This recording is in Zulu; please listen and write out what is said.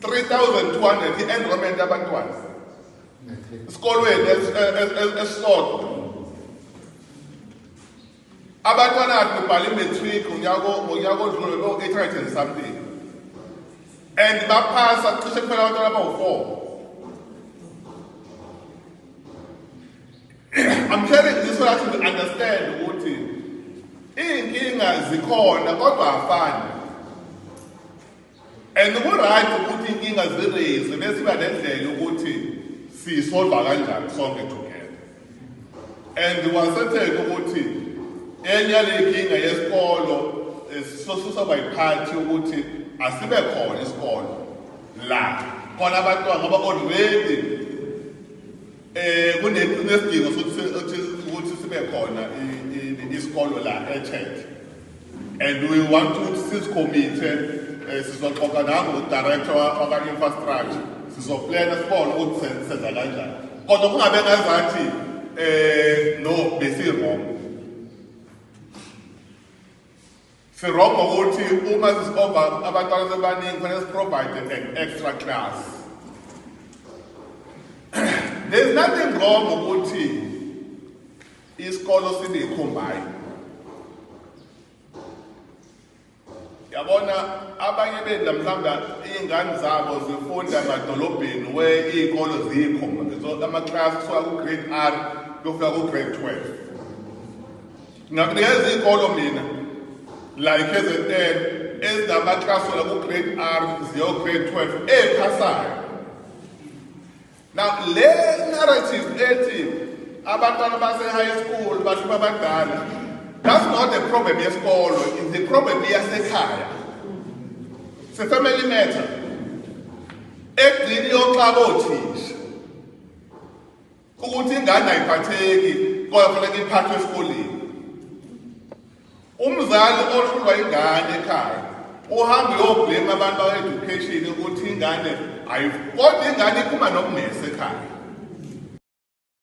3200 i-enrollment yabantwana esikolweni esisodwa abantwana akhe ubhala i-matric ngonyaka odlule lo-800 and something and baphasa cishe kuphela abantwana abawu-four I'm telling you so that you understand ukuthi iy'nkinga zikhona kodwa afani and ku-right ukuthi inkinga zireyizwe besiba nendlela ukuthi siyisolva kanjani sonke together and wasetheka ukuthi enye yaley'nkinga yesikolo eh, sosusa bayiphathi ukuthi asibe khona isikolo la khona abantwana ngoba already Eh kunesidingo sokuthi ukuthi sibe khona isikolo la eChurch. And we want to sis committee eh, sizoxoxa nango director waka infrastructure sizoplana sibone ukuthi senza kanjani. Kodwa kungabe ngazathi eh no besi wrong. Sirongo ukuthi uma sisova abantwana sebaningi kufanele siprovide an extra class. There's nothing wrong ukuthi isikolo sibe combine. Yabona abanye benda mhlawumbe izingane zabo zifunda emadolobheni we izikolo zikho ama class kusuka ku grade R kufika ku grade 12. Ngakunikeza iy'kolo mina la i-KZN ezinamaklasola ku-grade R ziyo-grade 12 ey'phasayo. Now le narrative ethi abantwana base-high school bahluma abadala that's not the problem yesikolo it's the problem yasekhaya se-family matter egcini yoxaba othisha ukuthi ingane ayiphatheki kodwa kufanele iphathwe esikoleni umzali ohlulwa ingane ekhaya uhambe uyoblame abantu awe-education ukuthi ingane kodwa ingane iphuma nokungesekhaya